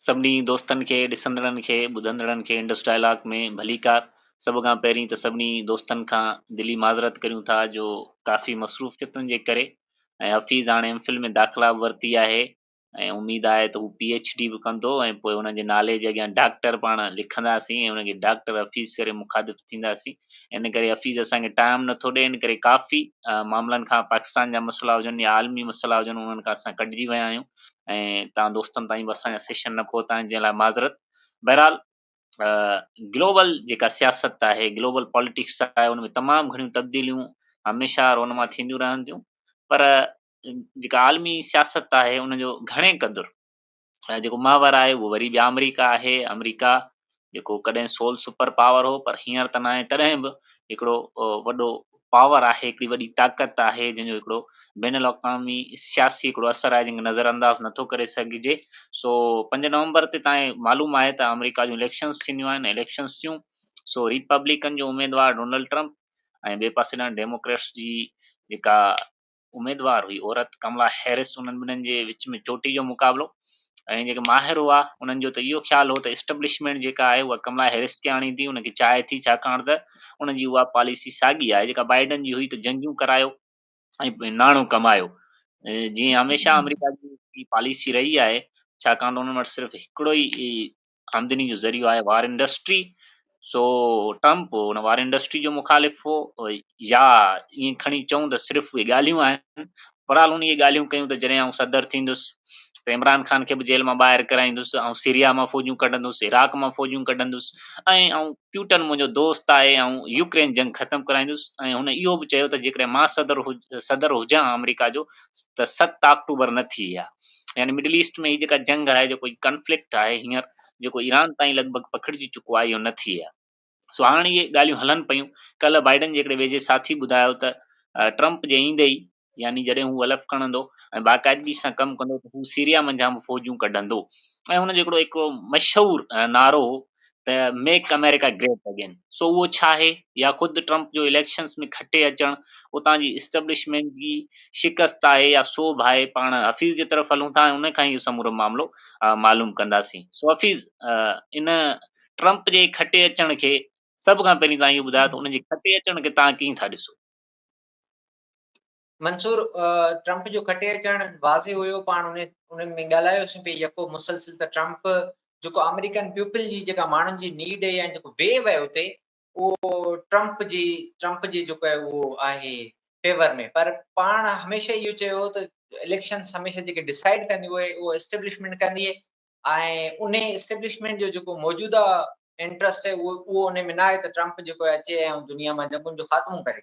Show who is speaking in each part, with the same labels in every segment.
Speaker 1: سڀني دوستن کي ڏسندڙن کي ٻڌندڙن کي انڊس ڊائلاگ ۾ ڀليڪار. سڀ کان پهرين ته سڀني دوستن کان دلي معذرت ڪريون ٿا جو ڪافي مصروفيتن جي ڪري ۽ حفيظ هاڻي ايم فل ۾ داخلا به ورتي آهي ۽ اميد آهي ته هو پي ايڇ ڊي به ڪندو ۽ پوء هن جي نالي جي اڳيان ڊاڪٽر پاڻ لکنداسين ۽ هن کي ڊاڪٽر حفيظ ڪري مخاطب ٿينداسين ان ڪري حفيظ اسان کي ٽائم نٿو ڏئي ان ڪري ڪافي معاملن کان پاڪستان جا مسئلا هجن يا عالمي مسئلا هجن انهن کان اسان ڪٽجي ويا آهيون ۽ تان دوستن تائين به اسان جا سيشن نه پهتا آهن جنهن لاء معذرت بهرحال گلوبل جيڪا سياست آهي گلوبل پاليٽڪس آهي ان ۾ تمام گهڻيون تبديليون هميشه رونما ٿينديون رهنديون پر جيڪا عالمي سياست آهي ان جو گهڻي قدر جيڪو محور آهي اهو وري به آمريڪا آهي آمريڪا جيڪو ڪڏهن سول سپر پاور هو پر هينئر ته ناهي تڏهن به هڪڙو وڏو پاور آهي هڪڙي وڏي طاقت آهي جنهن جو هڪڙو بين الاقوامي سياسي هڪڙو اثر آهي جنهن کي نظر انداز نٿو ڪري سگهجي سو پنج نومبر تي تائين معلوم آهي ته آمريڪا جون اليڪشنس ٿينديون آهن اليڪشنس ٿيون سو ريپبليڪن جو اميدوار ڊونلڊ ٽرمپ ۽ ٻئي پاسي ڏانهن ڊيموڪريٽس جي جيڪا اميدوار هئي عورت ڪملا هيرس انهن ٻنهن جي وچ ۾ چوٽي جو مقابلو ۽ جيڪي ماهر هئا انهن جو ته اهو خيال هو ته اسٽبلشمينٽ جيڪا آهي اها ڪملا هيرس کي آڻيندي ان کي چاهي ٿي ڇاڪاڻ ته ان جي اها پاليسي ساڳي آهي جيڪا بائيڊن جي هئي ته جنگيون ڪرايو ۽ ناڻو ڪمايو جيئن هميشه آمريڪا جي پاليسي رهي آهي ڇاڪاڻ ته انهن وٽ صرف هڪڙو ئي آمدني جو ذريعو آهي وار انڊسٽري سو ٽرمپ ان وار انڊسٽري جو مخالف هو يا ائين کڻي چئون ته صرف اهي ڳالهيون آهن برحال ان اهي ڳالهيون ڪيون ته جڏهن آئون صدر ٿيندس ته عمران خان کي به جيل مان ٻاهر ڪرائيندس آئون سيريا مان فوجون ڪڍندس عراق مان فوجون ڪڍندس ۽ آئون پيوٽن منهنجو دوست آهي، آئون يوڪرين جنگ ختم ڪرائيندس ۽ هن اهو به چيو ته جيڪڏهن مان صدر صدر هجان ها آمريڪا جو ته ست آڪٽوبر نه ٿئي ها. يعني مڊل ايسٽ ۾ هي جيڪا جنگ آهي جيڪو هي ڪنفلڪٽ آهي هينئر جيڪو ايران تائين لڳ ڀڳ پکڙجي چڪو آهي اهو نه ٿئي ها. سو هاڻ اهي ڳالهيون هلن پيون. ڪلهه بائيڊن جهڙي ويجهي ساٿي ٻڌايو ته ٽرمپ جي ايندي ئي يعني جڏهن هو ولف کڻندو ۽ باقاعدگي سان ڪم ڪندو ته هو سيريا منجهان به فوجون ڪڍندو ۽ هن جو هڪڙو هڪڙو مشهور نعرو هو ته ميڪ امريڪا گريٽ اگين سو اهو ڇا آهي يا خود ٽرمپ جو اليڪشنز ۾ کٽي اچڻ اتان جي اسٽبلشمينٽ جي شڪست آهي يا سوڀ آهي پاڻ حفيظ جي طرف هلون ٿا ۽ ان کان اهو سمورو معاملو معلوم ڪنداسين سو حفيظ ان ٽرمپ جي کٽي اچڻ کي سڀ کان پهرين تان اهو ٻڌايو ته ان جي کٽي اچڻ کي تان ڪيئن ٿا ڏسو
Speaker 2: منصور ٽرمپ جو کٽي اچڻ واضح هيو پاڻ انهن ۾ ڳالهايوسين پي يڪو مسلسل ته ٽرمپ جيڪو آمريڪن پيپل جي جيڪا ماڻهن جي نيڊ يا جيڪو ويو آهي اتي اهو ٽرمپ جي ٽرمپ جي جيڪو آهي اهو آهي فيور ۾ پر پاڻ هميشه اهو چيو ته اليڪشنز هميشه جيڪي ڊسائيڊ ڪنديون اهي اهو اسٽيبلشمينٽ ڪندي ۽ انهي اسٽيبلشمينٽ جو جيڪو موجوده انٽرسٽ آهي اهو انهي ۾ ناهي ته ٽرمپ جيڪو آهي اچي ۽ دنيا مان جنگن جو خاتمو ڪري.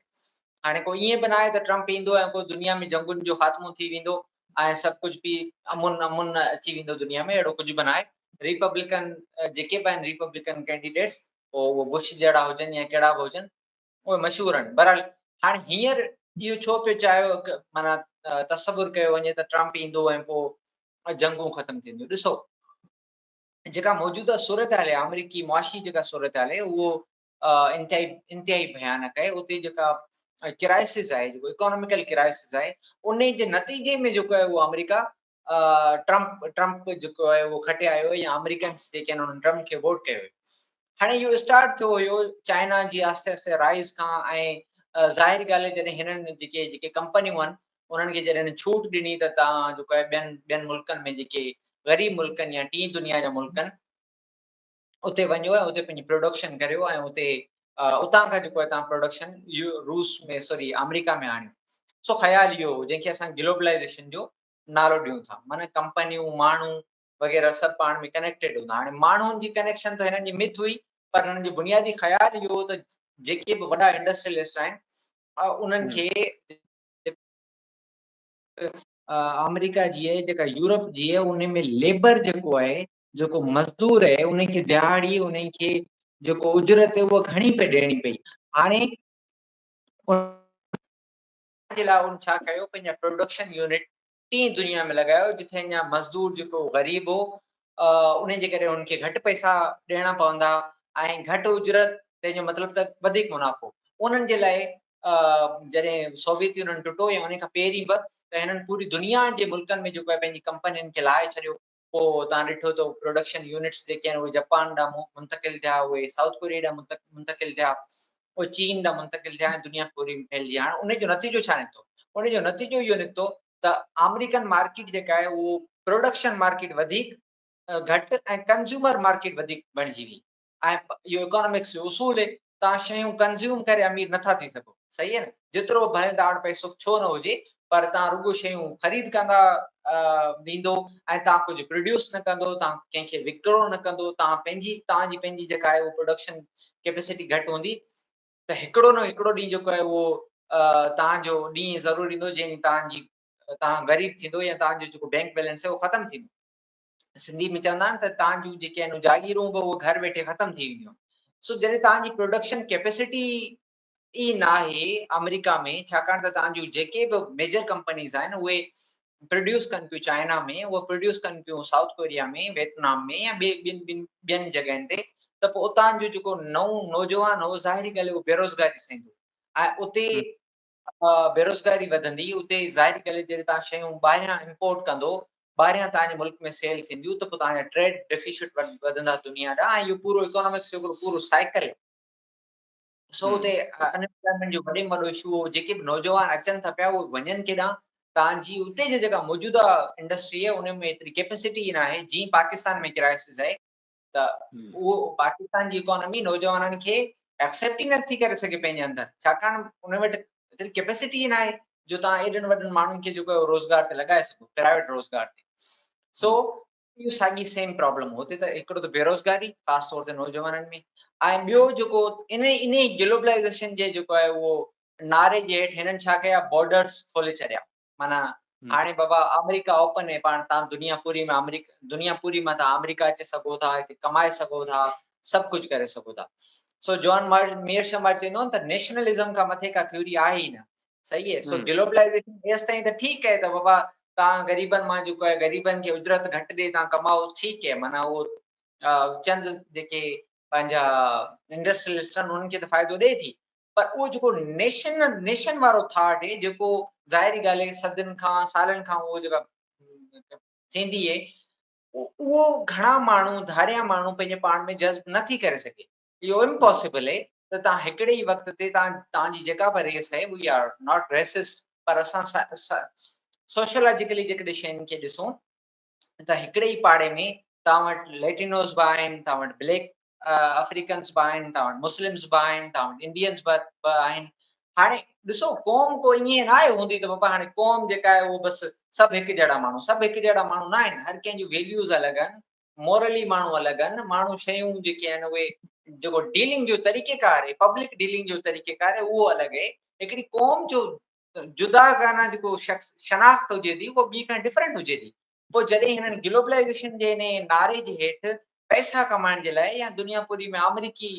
Speaker 2: هاڻي ڪو ائين به ناهي ته ٽرمپ ايندو ۽ ڪو دنيا ۾ جنگن جو خاتمو ٿي ويندو ۽ سڀ ڪجهه پي امن امن اچي ويندو دنيا ۾ اهڙو ڪجهه به ناهي. ريپبلڪن جيڪي به آهن ريپبلڪن ڪينڊيڊيٽس پوء اهو بش جهڙا هجن يا ڪهڙا به هجن اهي مشهور آهن. بهرحال هاڻ هينئر اهو ڇو پيو چاهيو معنيٰ تصور ڪيو وڃي ته ٽرمپ ايندو ۽ پوء جنگون ختم ٿينديون. ڏسو جيڪا موجوده صورتحال آهي آمريڪي معاشي جيڪا صورتحال آهي اهو انتهائي انتهائي ڀيانڪ آهي اتي جيڪا ڪرائسز آهي جيڪو اڪانوميڪل ڪرائسز آهي انهي جي نتيجي ۾ جيڪو آهي اهو آمريڪا ٽرمپ ٽرمپ جيڪو آهي اهو کٽي آيو يا آمريڪنس جيڪي آهن انهن ٽرمپ کي ووٽ ڪيو هاڻي اهو اسٽارٽ ٿيو هيو چائنا جي آهستي آهستي رائز کان ۽ ظاهر ڳالهه جڏهن هنن جيڪي جيڪي ڪمپنيون آهن انهن کي جڏهن ڇوٽ ڏني ته تان جو ٻين ٻين ملڪن ۾ جيڪي غريب ملڪن يا ٽين دنيا جا ملڪن اتي وڃو ۽ اتي پنهنجي پروڊڪشن ڪريو ۽ اتي اتان کان جيڪو آهي توهان پروڊڪشن روس ۾ سوري آمريڪا ۾ آڻيو سو خيال اهو هو جنهن کي اسان گلوبلائيزيشن جو نالو ڏيون ٿا معنيٰ ڪمپنيون ماڻهو وغيره سڀ پاڻ ۾ ڪنيڪٽيڊ هوندا هاڻي ماڻهن جي ڪنيڪشن ته هنن جي مٿ هئي پر هنن جو بنيادي خيال اهو هو ته جيڪي به وڏا انڊسٽريلسٽ آهن انهن کي آمريڪا جي آهي جيڪا يورپ جي آهي ان ۾ ليبر جيڪو آهي جيڪو مزدور اهي انهن کي دهاڙي انهن کي جيڪو اجرت اهي اهو گهڻي پئي ڏيڻي پئي هاڻي جي لاء ان ڇا ڪيو پنهنجا پروڊڪشن يونٽ ٽي دنيا ۾ لڳايو جتي اڃا مزدور جيڪو غريب هو انهن جي ڪري انهن کي گهٽ پئسا ڏيڻا پوندا ۽ گهٽ اجرت تنهن جو مطلب ته وڌيڪ منافعو انهن جي لاء جڏهن سوويت يونين ٽٽو يا ان کان پهرين به ته هنن پوري دنيا جي ملڪن ۾ جيڪو آهي پنهنجي ڪمپنين کي لائي ڇڏيو پوء توهان ڏٺو ته پروڊڪشن يونٽس جيڪي آهن اهي جپان ڏانهن منتقل ٿيا، اهي سائوٿ ڪوريا ڏانهن منتقل ٿيا، اهي چين ڏانهن منتقل ٿيا ۽ دنيا پوري ۾ ڦهلجي. هاڻ ان جو نتيجو ڇا نڪتو؟ ان جو نتيجو اهو نڪتو ته آمريڪن مارڪيٽ جيڪا آهي اهو پروڊڪشن مارڪيٽ وڌيڪ گهٽ ۽ ڪنزيومر مارڪيٽ وڌيڪ بڻجي وئي. ۽ اهو اڪانامڪس جو اصول هي توهان شيون ڪنزيوم ڪري امير نٿا ٿي سگهو صحيح هي نه جيترو ڀلي توهان وٽ پئسو ڇو نه هجي پر توهان رڳو شيون خريد ڪندا ويندو ۽ توهان ڪجهه پروڊيوس نه ڪندو توهان ڪنهن کي وڪرو نه ڪندو توهان پنهنجي توهان جي پنهنجي جيڪا آهي اهو پروڊڪشن ڪيپيسٽي گهٽ هوندي ته هڪڙو نه هڪڙو ڏينهن جيڪو آهي اهو توهان جو ڏينهن ضرور ايندو جنهن ڏينهن توهان جي توهان غريب ٿيندو يا توهان جو جيڪو بينڪ بيلنس آهي اهو ختم ٿيندو سنڌي ۾ چوندا آهن ته تان جون جيڪي آهن جاگيرون به اهي گهر ويٺي ختم ٿي وينديون سو جڏهن تان جي پروڊڪشن ڪيپيسٽي ئي ناهي آمريڪا ۾ ڇاڪاڻ ته تان جون جيڪي به ميجر ڪمپنيز آهن اهي پروڊيوس ڪن پيون چائنا ۾ اهي پروڊيوس ڪن پيون سائوٿ ڪوريا ۾ ويتنام ۾ يا ٻي ٻين ٻين ٻين جڳهين تي ته پوء اتان جو جيڪو نئون نوجوان هو ظاهري ڳالهه اهو بيروزگار ڏسندو ۽ اتي بيروزگاري وڌندي اتي ظاهري ڳالهه آهي جڏهن توهان شيون ٻاهريان امپورٽ ڪندو ٻاهريان توهان جي ملڪ ۾ سيل ٿينديون ته پوء توهان جا ٽريڊ ڊيفيسٽ وڌندا دنيا ڏانهن ۽ اهو پورو اڪانامڪس جو هڪڙو پورو سائيڪل سو اتي انپلائمينٽ جو وڏي ۾ وڏو اشو هو جيڪي به نوجوان اچن ٿا پيا اهي وڃن ڪيڏانهن تان جي اتي جي جيڪا موجوده انڊسٽري آهي ان ۾ ايتري ڪيپيسٽي نه آهي جي پاڪستان ۾ ڪرائسس آهي ته اهو پاڪستان جي اڪانومي نوجوانن کي ايڪسيپٽ ئي نٿي ڪري سگهي پنهنجي اندر ڇاڪاڻ ان وٽ ايتري ڪيپيسٽي ئي ناهي جو توهان ايڏن وڏن ماڻهن کي جيڪو روزگار تي لڳائي سگهو پرائيويٽ روزگار تي سو اهو ساڳي سيم پرابلم هتي ته هڪڙو ته بيروزگاري خاص طور تي نوجوانن ۾ ۽ ٻيو جيڪو ان ان گلوبلائزيشن جي جيڪو آهي اهو نعري جي هيٺ هنن ڇا ڪيا بارڊرز کولي ڇڏيا معنيٰ هاڻي بابا آمريڪا اوپن هي پاڻ تان دنيا پوري ۾ آمريڪا دنيا پوري مان تان آمريڪا اچي سگهو ٿا هتي ڪمائي سگهو ٿا سڀ ڪجهه ڪري سگهو ٿا سو جوان مارٽن ميئر شاهه مارٽن چوندو ته نيشنلزم کان مٿي ڪا ٿيوري آهي ئي نه صحيح هي سو گلوبلائيزيشن ايس تائين ته ٺيڪ هي ته بابا تان غريبن مان جو ڪو غريبن کي اجرت گهٽ ڏي تان ڪمائو ٺيڪ هي معنيٰ اهو چند جيڪي پنهنجا انڊسٽريلسٽن انهن کي ته فائدو ڏي ٿي پر اهو جيڪو نيشن نيشن وارو ٿاٽ هي جيڪو ظاهري ڳالهه هي صدين کان سالن کان اهو جيڪا ٿيندي هي اهو گهڻا ماڻهو ڌاريا ماڻهو پنهنجي پاڻ ۾ جذب نه ٿي ڪري سگهي اهو امپاسبل هي ته تان هڪڙي ئي وقت تي تان تان جي جيڪا به ريس هي وي آر ناٽ ريسسٽ پر اسان سوشيالاجيڪلي جيڪڏهن شين کي ڏسون ته هڪڙي ئي پاڙي ۾ توهان وٽ ليٽينوز به آهن، توهان وٽ بليڪ آفريڪنس به آهن، توهان وٽ مسلمز به آهن، توهان وٽ انڊينز به آهن. هاڻي ڏسو قوم ڪو ائين نه آهي هوندي ته بابا هاڻي قوم جيڪا آهي اهو بس سڀ هڪ جهڙا ماڻهو، سڀ هڪ جهڙا ماڻهو نه آهن، هر ڪنهن جون ويليوز الڳ آهن، مورلي ماڻهو الڳ آهن، ماڻهو شيون جيڪي آهن اهي جيڪو ڊيلنگ جو طريقيڪار آهي، پبلڪ ڊيلنگ جو طريقيڪار آهي اهو الڳ آهي، هڪڙي قوم جو جداگانه جيڪو شخص شناخت هجي ٿي اهو ٻئي کان ڊفرنٽ هجي ٿي پوء جڏهن هنن گلوبلائيزيشن جي انهيء نعري جي هيٺ پئسا ڪمائڻ جي لاء يا دنيا پوري ۾ آمريڪي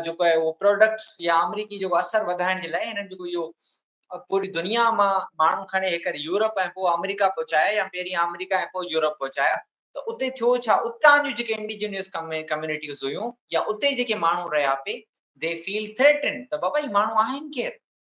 Speaker 2: جيڪو آهي اهو پراڊڪٽس يا آمريڪي جيڪو اثر وڌائڻ جي لاء هنن جيڪو اهو پوري دنيا مان ماڻهو کڻي هيڪر يورپ ۽ پوء آمريڪا پهچايا يا پهرين آمريڪا ۽ پوء يورپ پهچايا ته اتي ٿيو ڇا اتان جون جيڪي انڊيجنيس ڪميونٽيز هيون يا اتي جيڪي ماڻهو رهيا پي دي فيل ٿريٽن ته بابا هي ماڻهو آهن ڪير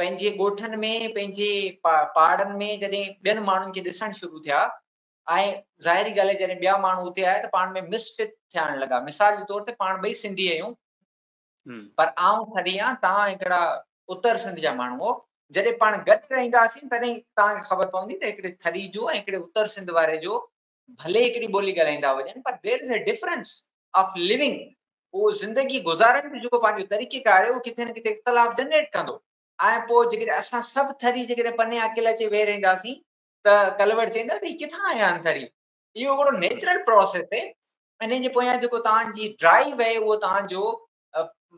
Speaker 2: پنهنجي ڳوٺن ۾ پنهنجي پاڙن ۾ جڏهن ٻين ماڻهن کي ڏسڻ شروع ٿيا ۽ ظاهري ڳالهه آهي جڏهن ٻيا ماڻهو اتي آيا ته پاڻ ۾ مس فٽ ٿيڻ لڳا مثال جي طور تي پاڻ ٻئي سنڌي آهيون پر آئون ٿري آهيان تان هڪڙا اتر سنڌ جا ماڻهو جڏهن پاڻ گڏ رهنداسين تڏهن تان کي خبر پوندي ته هڪڙي ٿري جو ۽ هڪڙي اتر سنڌ واري جو ڀلي هڪڙي ٻولي ڳالهائيندا هجن پر there is a difference of living اهو زندگي گذارڻ جو جيڪو پنهنجو طريقي ڪار آهي اهو ڪٿي نه ڪٿي اختلاف جنريٽ ڪندو ۽ پوء جيڪڏهن اسان سڀ ٿري جيڪڏهن پني اڪيلا اچي ويهي رهنداسين ته ڪلوڙ چئندا ته هي ڪٿان آيا آهن ٿري اهو هڪڙو نيچرل پروسيس آهي انهن جي پويان جيڪو توهان جي ڊرائيو آهي اهو توهان جو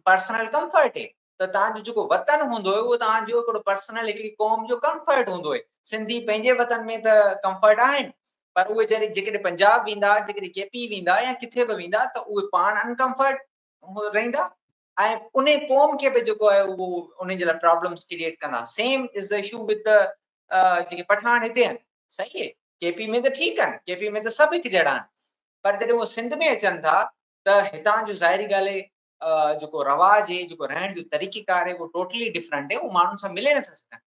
Speaker 2: پرسنل ڪمفرٽ هي ته توهان جو جيڪو وطن هوندو اهو توهان جو هڪڙو پرسنل هڪڙي قوم جو ڪمفرٽ هوندو اهي سنڌي پنهنجي وطن ۾ ته ڪمفرٽ آهن پر اهي جڏهن جيڪڏهن پنجاب ويندا جيڪڏهن ڪي پي ويندا يا ڪٿي به ويندا ته اهي پاڻ انڪمفرٽ رهندا ۽ ان قوم کي به جيڪو آهي اهو ان جي لاء پرابلمس ڪريئيٽ ڪندا same is the issue with جيڪي پٺاڻ هتي آهن صحيح آهي ڪي پي ۾ ته ٺيڪ آهن ڪي پي ۾ ته سڀ هڪ جهڙا آهن پر جڏهن اهو سنڌ ۾ اچن ٿا ته هتان جو ظاهري ڳالهه اهي جيڪو رواج اهي جيڪو رهڻ جو طريقي ڪار اهي ٽوٽلي ڊفرنٽ اهي ماڻهن سان ملي نٿا سگهن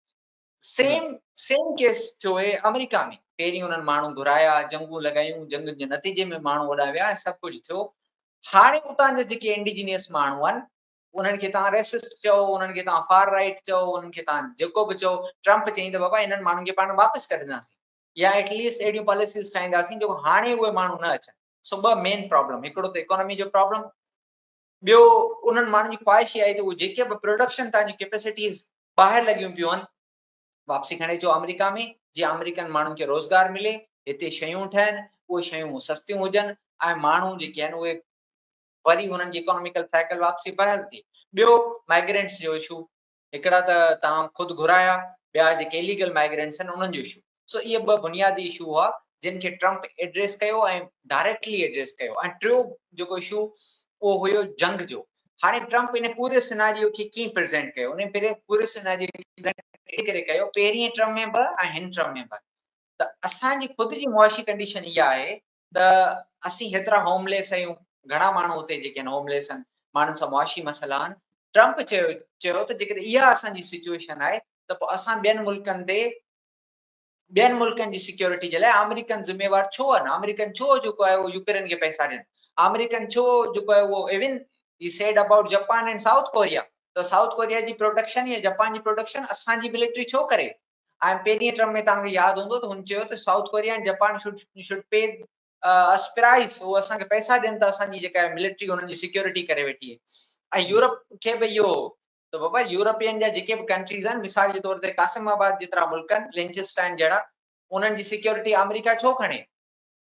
Speaker 2: سيم سيم ڪيس ٿيو اهي آمريڪا ۾ پهرين انهن ماڻهو گهرايا جنگون لڳايون جنگن جي نتيجي ۾ ماڻهو اوڏا ويا ۽ سڀ ڪجهه ٿيو هاڻي اتان جا جيڪي انڊيجنيس ماڻهو آهن انهن کي تان ريسسٽ چئو انهن کي تان فار رائيٽ چئو انهن کي تان جيڪو به چئو ٽرمپ چئي ته بابا انهن ماڻهن کي پاڻ واپس ڪڍنداسين يا ايٽليسٽ اهڙيون پاليسيز ٺاهينداسين جو هاڻي اهي ماڻهو نه اچن سو ٻه مين پرابلم هڪڙو ته اڪانومي جو پرابلم ٻيو انهن ماڻهن جي خواهش آهي ته جيڪي به پروڊڪشن تان جي ڪيپيسٽيز ٻاهر لڳيون پيون آهن واپسي کڻي اچو آمريڪا ۾ جي آمريڪن ماڻهن کي روزگار ملي هتي شيون ٺهن اهي شيون سستيون هجن ۽ ماڻهو جيڪي آهن اهي وري انهن جي اڪانوميڪل سائيڪل واپسي بحال ٿئي ٻيو مائگرينٽس جو اشو هڪڙا ته توهان خود گهرايا، ٻيا جيڪي اليگل مائگرينٽس آهن انهن جو اشو. سو اهي ٻه بنيادي اشو هئا جن کي ٽرمپ ايڊريس ڪيو ۽ ڊائريڪٽلي ايڊريس ڪيو ۽ ٽيون جيڪو اشو اهو هيو جنگ جو. هاڻي ٽرمپ انهي پوري سيناريو کي ڪيئن پريزينٽ ڪيو انهي پوري سيناريو کي پريزينٽ اهڙي ڪري ڪيو پهرين ٽرم ۾ به ۽ هن ٽرم ۾ به ته اسان جي خود جي معاشي ڪنڊيشن اها آهي ته اسين هيترا هوم ليس اهيون، گهڻا ماڻهو اتي جيڪي آهن هوم ليس آهن، ماڻهن سان معاشي مسئلا آهن، ٽرمپ چيو چيو ته جيڪڏهن اها اسان جي سچوئيشن آهي ته پوء اسان ٻين ملڪن تي ٻين ملڪن جي سيڪيورٽي جي لاء آمريڪن ذميوار ڇو آهن، آمريڪن ڇو جيڪو آهي اهو يوڪرين کي پئسا ڏين، آمريڪن ڇو جيڪو آهي اهو even he said about Japan and South Korea ته سائوٿ ڪوريا جي پروڊڪشن يا جپان جي پروڊڪشن اسان جي ملٽري ڇو ڪري، آء ايم پهرين ٽرم ۾ توهان کي ياد هوندو ته هن چيو ته South Korea ۽ Japan should should pay us price هو اسان کي پئسا ڏين ته اسان جي جيڪا ملٽري هنن جي سيڪيورٽي ڪري ويٺي ۽ يورپ کي به اهو ته بابا يورپين جا جيڪي به ڪنٽريز آهن مثال جي طور تي قاسم آباد جيترا ملڪ آهن لينچسٽائن جهڙا انهن جي سيڪيورٽي آمريڪا ڇو کڻي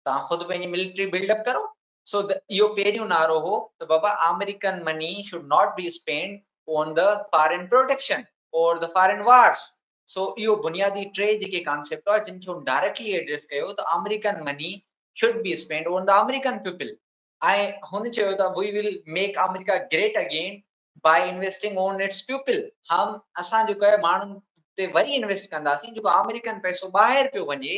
Speaker 2: توهان خود پنهنجي ملٽري بلڊ اپ ڪرو سو ته اهو پهريون نعرو هو ته بابا American money should not be spend on the foreign protection or the foreign wars so اهو بنيادي ٽي جيڪي ڪانسيپٽ هئا جن کي هن ڊائريڪٽلي ايڊريس ڪيو ته American money should be spend on the American people ۽ هن چيو ته we will make America great again by investing on its people هم اسان جيڪو آهي ماڻهن تي وري انويسٽ ڪنداسين جيڪو آمريڪن پئسو ٻاهر پيو وڃي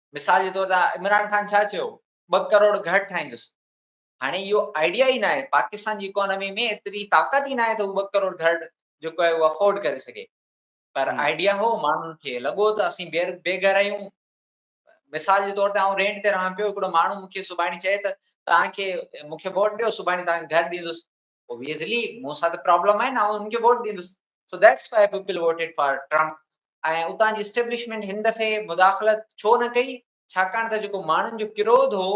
Speaker 2: مثال جي طور تي عمران خان ڇا چيو ٻه ڪروڙ گهر ٺاهيندس هاڻي اهو آئيڊيا ئي ناهي پاڪستان جي اڪانومي ۾ ايتري طاقت ئي ناهي ته هو ٻه ڪروڙ گهر جيڪو آهي اهو افورڊ ڪري سگهي پر آئيڊيا هو ماڻهن کي لڳو ته اسين بي بي گهر آهيون مثال جي طور تي آئون رينٽ تي رهان پيو هڪڙو ماڻهو مون کي سڀاڻي چئي ته توهان کي مون کي ووٽ ڏيو سڀاڻي توهان کي گهر ڏيندس اوبيسلي مون سان ته پرابلم آهي نه آئون هن کي ووٽ ڏيندس so that's why people voted for Trump ۽ اتان جي اسٽيبلشمينٽ هن دفعي مداخلت ڇو نه ڪئي ڇاڪاڻ ته جيڪو ماڻهن جو ڪروڌ هو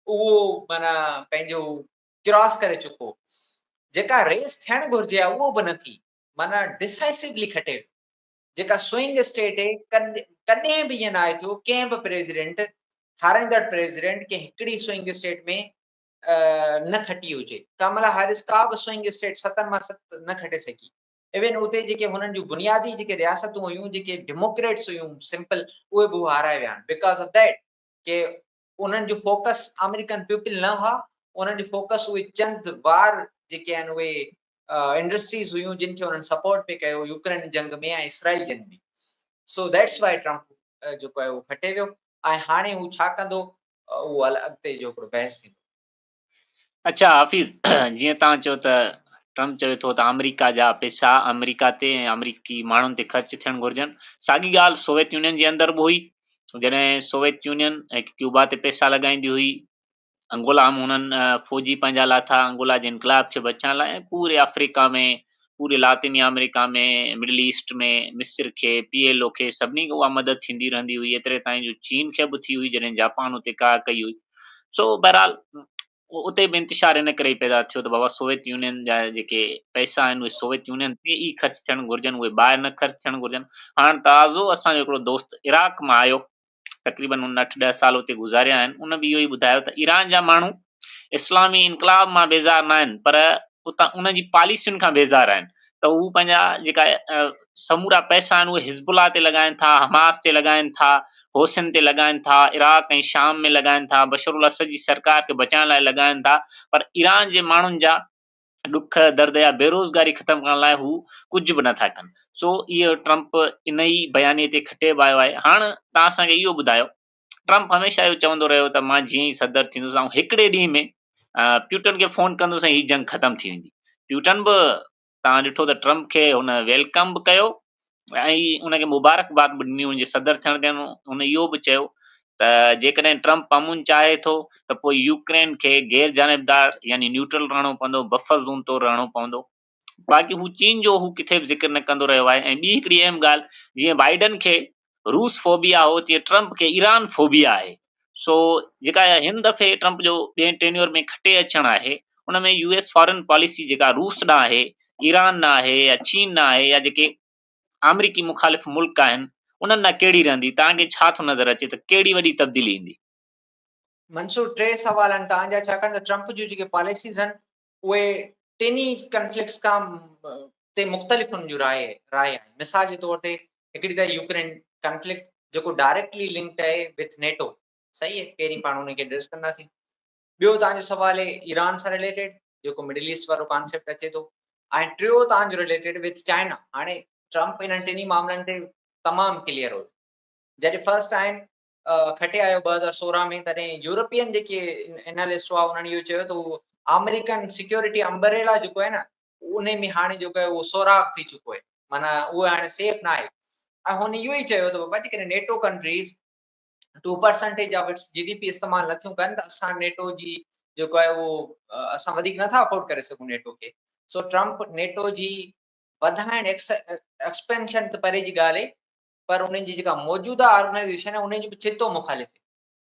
Speaker 2: اهو معنيٰ پنهنجو ڪراس ڪري چڪو جيڪا ريس ٿيڻ گهرجي آ اهو به نه ٿي معنيٰ ڊسائسولی کٽي جيڪا سوئنگ اسٽيٽ هي ڪڏهن به ائين نه آهي ٿيو ڪنهن به پريزيڊنٽ هارائيندڙ پريزيڊنٽ ڪنهن هڪڙي سوئنگ اسٽيٽ ۾ نه کٽي هجي. ڪاملا هيرس ڪا به سوئنگ اسٽيٽ ستن مان ست نه کٽي سگهي. ايون اتي جيڪي هنن جون بنيادي جيڪي رياستون هيون جيڪي ڊيموڪريٽس هيون سمپل اهي به هارائي ويا آهن بيڪاز آف ديٽ ڪي انهن جو فوڪس آمريڪن پيپل نه هئا انهن جو فوڪس اهي چند وار جيڪي آهن اهي انڊسٽريز هيون جن کي انهن سپورٽ پي ڪيو يوڪرين جنگ ۾ ۽ اسرائيل جنگ ۾ سو ديٽس وائي ٽرمپ جيڪو آهي اهو کٽي ويو ۽ هاڻي هو ڇا ڪندو اهو هل اڳتي جو هڪڙو بحث
Speaker 1: ٿيندو. اڇا حافظ جيئن توهان چيو ته ٽرمپ چوي ٿو ته آمريڪا جا پيسا آمريڪا تي ۽ آمريڪي ماڻهن تي خرچ ٿيڻ گهرجن ساڳي ڳالهه سوويت يونين جي اندر به هئي جڏهن سوويت يونين هڪ ڪيوبا تي پيسا لڳائيندي هئي انگولا هم هنن فوجي پنهنجا لاٿا انگولا جي انقلاب کي بچائڻ لاء ۽ پوري آفريڪا ۾ پوري لاطيني آمريڪا ۾، مڊل ايسٽ ۾، مصر کي، پي ايل او کي، سڀني کي اها مدد ٿيندي رهندي هئي، ايتري تائين جو چين کي به ٿي هئي جڏهن جاپان اتي ڪاهه ڪئي هئي. سو بهرحال اتي به انتشار ان ڪري پيدا ٿيو ته بابا سوويت يونين جا جيڪي پئسا آهن اهي سوويت يونين تي ئي خرچ ٿيڻ گهرجن، اهي ٻاهر نه خرچ ٿيڻ گهرجن. هاڻ تازو اسان جو هڪڙو دوست عراق مان آيو، تقريبن هن اٺ ڏهه سال اتي گذاريا آهن، ان به اهو ئي ٻڌايو ته ايران جا ماڻهو اسلامي انقلاب مان بيزار ناهن پر اتان انهن جي پاليسين کان بيزار آهن ته هو پنهنجا جيڪا سمورا پئسا آهن اهي حزب الله تي لڳائن ٿا، حماس تي لڳائن ٿا، حوثين تي لڳائن ٿا، عراق ۽ شام ۾ لڳائن ٿا، بشرالاسد جي سرڪار کي بچائڻ لاء لڳائن ٿا پر ايران جي ماڻهن جا ڏک درد يا بيروزگاري ختم ڪرڻ لاء هو ڪجهه به نٿا ڪن سو اهو ٽرمپ انهي بيانيي تي کٽي به آيو آهي هاڻ توهان اسان کي اهو ٻڌايو ٽرمپ هميشه اهو چوندو رهيو ته مان جيئن ئي صدر ٿيندس آئون هڪڙي ڏينهن ۾ پيوٽن کي فون ڪندس ۽ هي جنگ ختم ٿي ويندي پيوٽن به توهان ڏٺو ته ٽرمپ کي هن ويلڪم به ڪيو ۽ ان کي مبارڪباد به ڏني هئي جي صدر ٿيڻ تي هن اهو به چيو ته جيڪڏهن ٽرمپ امن چاهي ٿو ته پوء يوڪرين کي غير جانبدار يعني نيوٽرل رهڻو پوندو، بفر زون طور رهڻو پوندو. باقي هو چين جو هو ڪٿي به ذڪر نه ڪندو رهيو آهي ۽ ٻي هڪڙي اهم ڳالهه جيئن بائيڊن کي روس فوبيا هو تيئن ٽرمپ کي ايران فوبيا آهي. سو جيڪا اها هن دفعي ٽرمپ جو ٻئي ٽينيور ۾ کٽي اچڻ آهي ان ۾ يو ايس فارن پاليسي جيڪا روس ڏانهن آهي، ايران ڏانهن آهي يا چين ڏانهن آهي يا جيڪي آمريڪي مخالف ملڪ آهن انهن ڏانهن ڪهڙي رهندي توهان کي ڇا ٿو نظر اچي ته ڪهڙي وڏي تبديلي ايندي؟ منصور
Speaker 2: ٽي سوال آهن توهان جا ڇاڪاڻ ته ٽرمپ جون جيڪي پاليسيز آهن اهي ٽن ئي ڪنفلڪٽس کان تي مختلف انهن جون راء آهن. مثال جي طور تي هڪڙي ته يوڪرين ڪنفلڪٽ جيڪو ڊائريڪٽلي لنڪڊ آهي وٿ نيٽو صحيح آهي پهرين پاڻ ان کي ايڊريس ڪنداسين. ٻيو توهان جو سوال آهي ايران سان رليٽيڊ جيڪو مڊل ايسٽ وارو ڪانسيپٽ اچي ٿو ۽ ٽيو توهان جو رليٽيڊ وٿ چائنا هاڻي ٽرمپ انهن ٽنهي معاملن تي تمام ڪليئر هو جڏهن فرسٽ ٽائيم کٽي آيو ٻه هزار سورهن ۾ تڏهن يورپين جيڪي انالسٽ هئا انهن اهو چيو ته هو آمريڪن سيڪيورٽي امبريلا جيڪو آهي نه ان ۾ هاڻي جيڪو آهي اهو سوراخ ٿي چڪو آهي معنيٰ اهو هاڻي سيف نه آهي ۽ هن اهو ئي چيو ته بابا جيڪڏهن NATO countries two percentage of its G D P استعمال نٿيون ڪن ته اسان نيٽو جي جيڪو آهي اهو اسان وڌيڪ نٿا افورڊ ڪري سگهون نيٽو کي سو ٽرمپ نيٽو جي وڌائڻ ايڪسپينشن ته پري جي ڳالهه پر انهن جي جيڪا موجوده آرگنائيزيشن آهي انهن جي به ڇتو مخالف آهي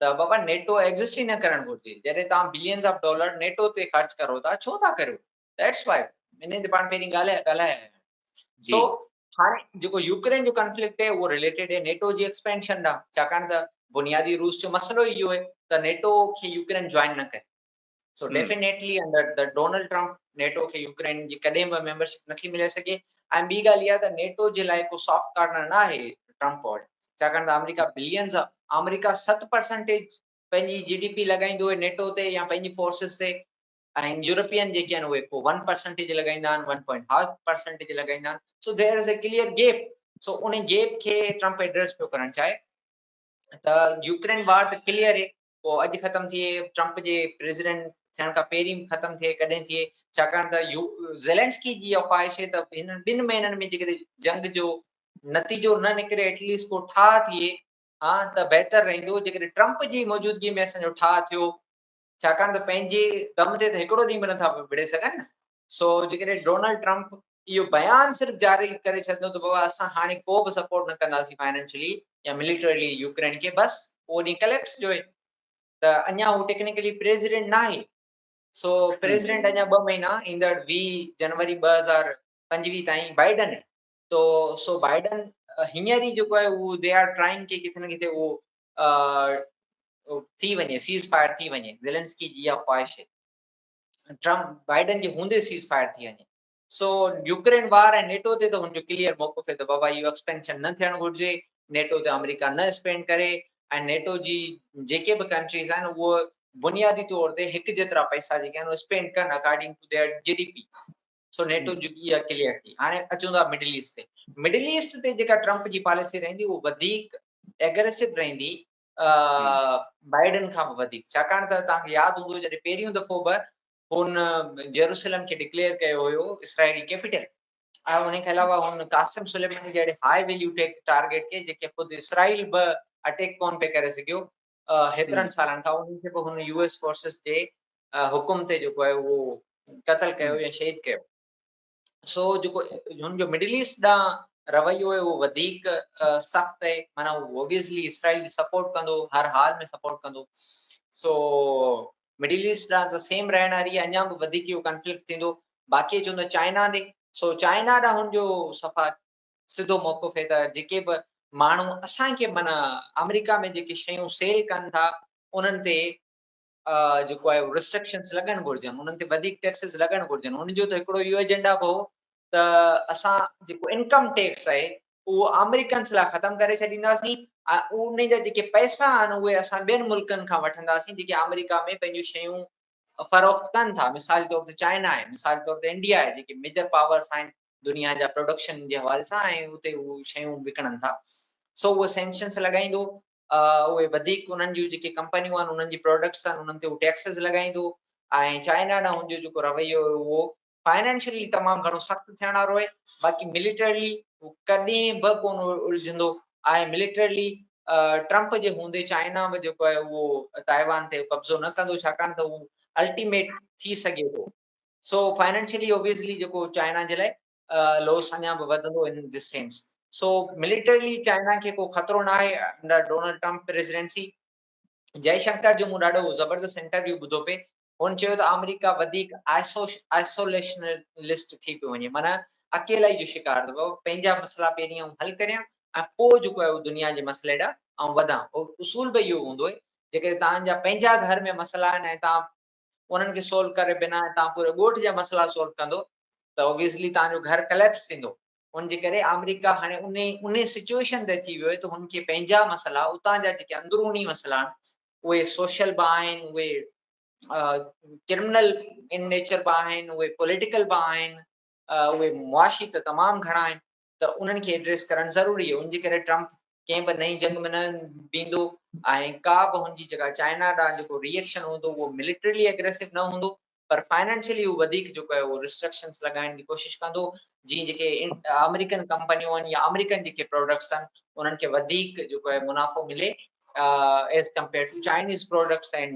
Speaker 2: ته بابا نيٽو ايگزسٽ ئي نه ڪرڻ گهرجي جڏهن توهان بلينز آف ڊالر نيٽو تي خرچ ڪرو ٿا ڇو ٿا ڪريو ذيٽس وائي انهن تي پاڻ پهرين ڳالهايا ڳالهايا سو هاڻي جيڪو يوڪرين جو ڪنفلڪٽ آهي اهو ريليٽيڊ آهي نيٽو جي ايڪسپينشن ڏانهن ڇاڪاڻ ته بنيادي روس جو مسئلو ئي اهو آهي ته نيٽو کي يوڪرين جوائن نه ڪري so definitely under
Speaker 1: the
Speaker 2: Donald Trump NATO کي يوڪرين جي ڪڏهن به ميمبرشپ نه ٿي ملي سگهي ۽ ٻي ڳالهه اها ته نيٽو جي لاء ڪو سافٽ ڪارنر نه آهي ٽرمپ وٽ ڇاڪاڻ ته آمريڪا بلينز آف آمريڪا ست پرسنٽيج پنهنجي جي ڊي پي لڳائيندو آهي نيٽو تي يا پنهنجي فورسز تي ۽ يورپين جيڪي آهن اهي ڪو ون پرسنٽيج لڳائيندا آهن ون پوائنٽ هاف پرسنٽيج لڳائيندا آهن so there is a clear gap so ان گيپ کي ٽرمپ ايڊريس پيو ڪرڻ چاهي ته يوڪرين وار ته ڪليئر اي اهو اڄ ختم ٿئي، ٽرمپ جي پريزيڊنٽ ٿيڻ کان پهرين ختم ٿئي ڪڏهن ٿئي، ڇاڪاڻ ته زيلينسڪي جي اها خواهش هي ته هن ٻن مهينن ۾ جيڪڏهن جنگ جو نتيجو نه نڪري ايٽ ليسٽ ڪو ٺاهه ٿئي ها ته بهتر رهندو، جيڪڏهن ٽرمپ جي موجودگي ۾ اسان جو ٺاهه ٿيو، ڇاڪاڻ ته پنهنجي دم تي ته هڪڙو ڏينهن به نٿا وڙهي سگهن نه. سو جيڪڏهن ڊونلڊ ٽرمپ اهو بيان صرف جاري ڪري ڇڏندو ته بابا اسان هاڻي ڪو به سپورٽ نه ڪنداسين فائنينشلي يا مليٽرلي يوڪرين کي بس اهو ڏينهن ڪليپس جو هي ته اڃا هو ٽيڪنيڪلي پريزيڊنٽ ناهي سو پريزيڊنٽ اڃا ٻه مهينا ايندڙ ويهه جنوري ٻه هزار پنجويهه تائين بائيڊن هي تو سو بائيڊن هينئر ئي جيڪو آهي اهو دي آر ٽرائنگ کي ڪٿي نه ڪٿي اهو ٿي وڃي سيز فائر ٿي وڃي زيلنسڪي جي اها خواهش هي ٽرمپ بائيڊن جي هوندي سيز فائر ٿي وڃي. سو يوڪرين وار ۽ نيٽو تي ته هن جو ڪليئر موقف هي ته بابا اهو ايڪسپينشن نه ٿيڻ گهرجي، نيٽو تي آمريڪا نه اسپينڊ ڪري ۽ نيٽو جي جيڪي به ڪنٽريز آهن اهي بنيادي طور تي هڪ جيترا پئسا جيڪي آهن اهي اسپينڊ ڪن according to their G D P. So NATO جي اها ڪليئر ٿي. هاڻي اچون ٿا مڊل ايسٽ تي. مڊل ايسٽ تي جيڪا ٽرمپ جي پاليسي رهندي اهو وڌيڪ ايگريسو رهندي بائيڊن کان به وڌيڪ ڇاڪاڻ ته توهان کي ياد هوندو جڏهن پهريون دفعو به هن جيروسلم کي ڊڪليئر ڪيو هيو اسرائيلي ڪيپيٽل ۽ ان کان علاوه هن قاسم سليماني جهڙي هاء ويليو ٽيڪ ٽارگيٽ کي جيڪي خود اسرائيل به اٽيڪ ڪون پي ڪري سگهيو هيترن سالن کان انهن کي به هن يو ايس فورسز جي حڪم تي جيڪو آهي اهو قتل ڪيو يا شهيد ڪيو سو جيڪو هن جو مڊل ايسٽ ڏانهن رويو آهي اهو وڌيڪ سخت آهي معنيٰ هو اوبيسلي اسرائيل جي سپورٽ ڪندو هر حال ۾ سپورٽ ڪندو سو مڊل ايسٽ ڏانهن ته سيم رهڻ واري اڃا به وڌيڪ اهو ڪنفلڪٽ ٿيندو باقي چون ته چائنا ڏي سو چائنا ڏانهن هن جو صفا سڌو موقف آهي ته جيڪي به ماڻهو اسان کي معنيٰ آمريڪا ۾ جيڪي شيون سيل ڪن ٿا انهن تي جيڪو آهي رسٽرڪشنس لڳڻ گهرجن انهن تي وڌيڪ ٽيڪسز لڳڻ گهرجن ان جو ته هڪڙو اهو ايجنڊا به هو ته اسان جيڪو انڪم ٽيڪس آهي اهو آمريڪنس لاء ختم ڪري ڇڏينداسين ۽ ان جا جيڪي پئسا آهن اهي اسان ٻين ملڪن کان وٺنداسين جيڪي آمريڪا ۾ پنهنجون شيون فروخت ڪن ٿا مثال طور تي چائنا آهي مثال طور تي انڊيا آهي جيڪي ميجر پاورس آهن دنيا جا پروڊڪشن جي حوالي سان ۽ اتي هو شيون وڪڻن ٿا سو اهو سينڪشنس لڳائيندو اهي وڌيڪ انهن جون جيڪي ڪمپنيون آهن انهن جي پراڊڪٽس آهن انهن تي هو ٽيڪسز لڳائيندو ۽ چائنا ڏانهن هن جو جيڪو رويو هيو اهو فائنانشلي تمام گهڻو سخت ٿيڻ وارو آهي باقي مليٽرلي هو ڪڏهن به ڪون الجهندو ۽ مليٽرلي ٽرمپ جي هوندي چائنا به جيڪو آهي اهو تائيوان تي قبضو نه ڪندو ڇاڪاڻ ته هو الٽيميٽ ٿي سگهي ٿو سو فائنانشلي اوبيسلي جيڪو چائنا جي لاء لوس اڃا به وڌندو in this sense so militarily China کي ڪو خطرو نه آهي under Donald Trump presidency Jaishankar جو مون ڏاڍو زبردست انٽرويو ٻڌو پي هن چيو ته آمريڪا وڌيڪ آئسوليشنلسٽ ٿي پيو وڃي معنيٰ اڪيلائي جو شڪار ته بابا پنهنجا مسئلا پهرين آئون حل ڪريان ۽ پوء جيڪو آهي دنيا جي مسئلي ڏانهن آئون وڌان اصول به اهو هوندو آهي جيڪڏهن توهان جا پنهنجا گهر ۾ مسئلا آهن ۽ توهان انهن کي سولو ڪري بنا ۽ تان پوري ڳوٺ جا مسئلا سولو ڪندو ته اوبيسلي تان جو گهر ڪليپس ٿيندو ان جي ڪري آمريڪا هاڻي انهي انهي سچوئيشن تي اچي ويو آهي ته هن کي پنهنجا مسئلا اتان جا جيڪي اندروني مسئلا آهن اهي سوشل به آهن اهي ڪرمنل ان نيچر به آهن اهي پوليٽيڪل به آهن اهي معاشي ته تمام گهڻا آهن ته انهن کي ايڊريس ڪرڻ ضروري هو ان جي ڪري ٽرمپ ڪنهن به نئين جنگ ۾ نه بيهندو ۽ ڪا به هن جي جيڪا چائنا ڏانهن جيڪو ريئڪشن هوندو اهو ملٽريلي اگريسو نه هوندو پر فائنانشلي هو وڌيڪ جيڪو آهي اهو ريسٽرڪشنس لڳائڻ جي ڪوشش ڪندو جيئن جيڪي آمريڪن ڪمپنيون آهن يا آمريڪن جيڪي پروڊڪٽس آهن انهن کي وڌيڪ جيڪو آهي منافعو ملي as compare to Chinese products ۽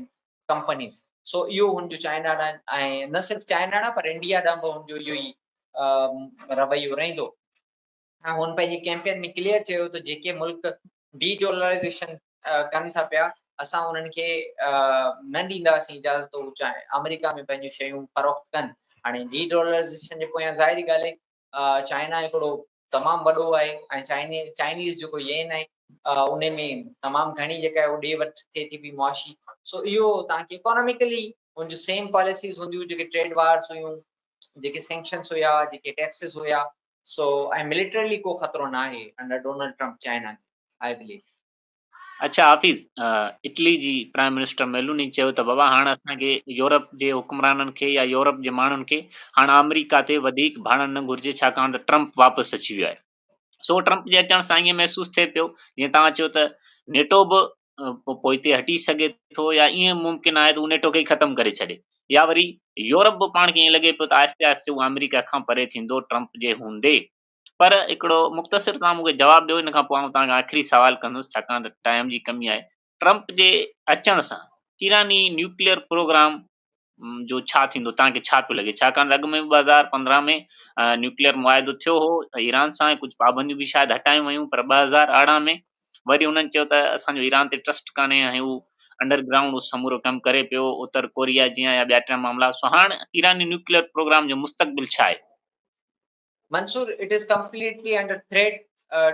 Speaker 2: companies so اهو هن جو چائنا ڏانهن ۽ نه صرف چائنا ڏانهن پر انڊيا ڏانهن به هن جو اهو ئي رويو رهندو. هن پنهنجي ڪيمپين ۾ ڪليئر چيو ته جيڪي ملڪ ڊي ڊالرائيزيشن ڪن ٿا پيا اسان انهن کي نه ڏينداسين اجازت هو آمريڪا ۾ پنهنجون شيون فروخت ڪن هاڻي ڊي ڊالرائيزيشن جي پويان ظاهري ڳالهه چائنا هڪڙو تمام وڏو آهي ۽ چائني چائنيز جيڪو ين آهي ان ۾ تمام گهڻي جيڪا هو ڏي وٺ ٿئي ٿي پي معاشي سو اهو تان کي اڪاناميڪلي ان جو سيم پاليسيز هونديون جيڪي ٽريڊ وارز هيون جيڪي سينڪشنز هيا جيڪي ٽيڪسز هيا سو ۽ ملٽرلي ڪو خطرو ناهي under Donald Trump China I believe اچا
Speaker 1: حافظ اٽلي جي پرائم منسٽر ميلوني چيو ته بابا هاڻ اسان کي يورپ جي حڪمرانن کي يا يورپ جي ماڻهن کي هاڻ آمريڪا تي وڌيڪ ڀاڙڻ نه گهرجي ڇاڪاڻ ته ٽرمپ واپس اچي ويو آهي سو ٽرمپ جي اچڻ سان ائين محسوس ٿئي پيو جيئن توهان چيو ته نيٽو به پوئتي هٽي سگهي ٿو يا ائين ممڪن آهي ته هو نيٽو کي ئي ختم ڪري ڇڏي يا وري يورپ به پاڻ کي ائين لڳي پيو ته آهستي آهستي هو آمريڪا کان پري ٿيندو ٽرمپ جي هوندي پر هڪڙو مختصر توهان مون کي جواب ڏيو ان کان پوء آئون توهان کي آخري سوال ڪندس ڇاڪاڻ ته ٽائيم جي ڪمي آهي ٽرمپ جي اچڻ سان ايراني نيوڪليئر پروگرام جو ڇا ٿيندو توهان کي ڇا پيو لڳي ڇاڪاڻ ته اڳ ۾ ٻه هزار پندرهن ۾ نيوڪليئر معاهدو ٿيو هو ايران سان ڪجهه پابنديون به شايد هٽايون ويون پر ٻه هزار ارڙهن ۾ وري انهن چيو ته اسان جو ايران تي ٽرسٽ ڪانهي ۽ هو انڊر گرائونڊ سمورو ڪم ڪري پيو اتر ڪوريا جيان يا ٻيا ٽيا معاملا سو هاڻ ايراني نيوڪليئر پروگرام جو مستقبل ڇا آهي Mansoor
Speaker 2: it is completely under threat,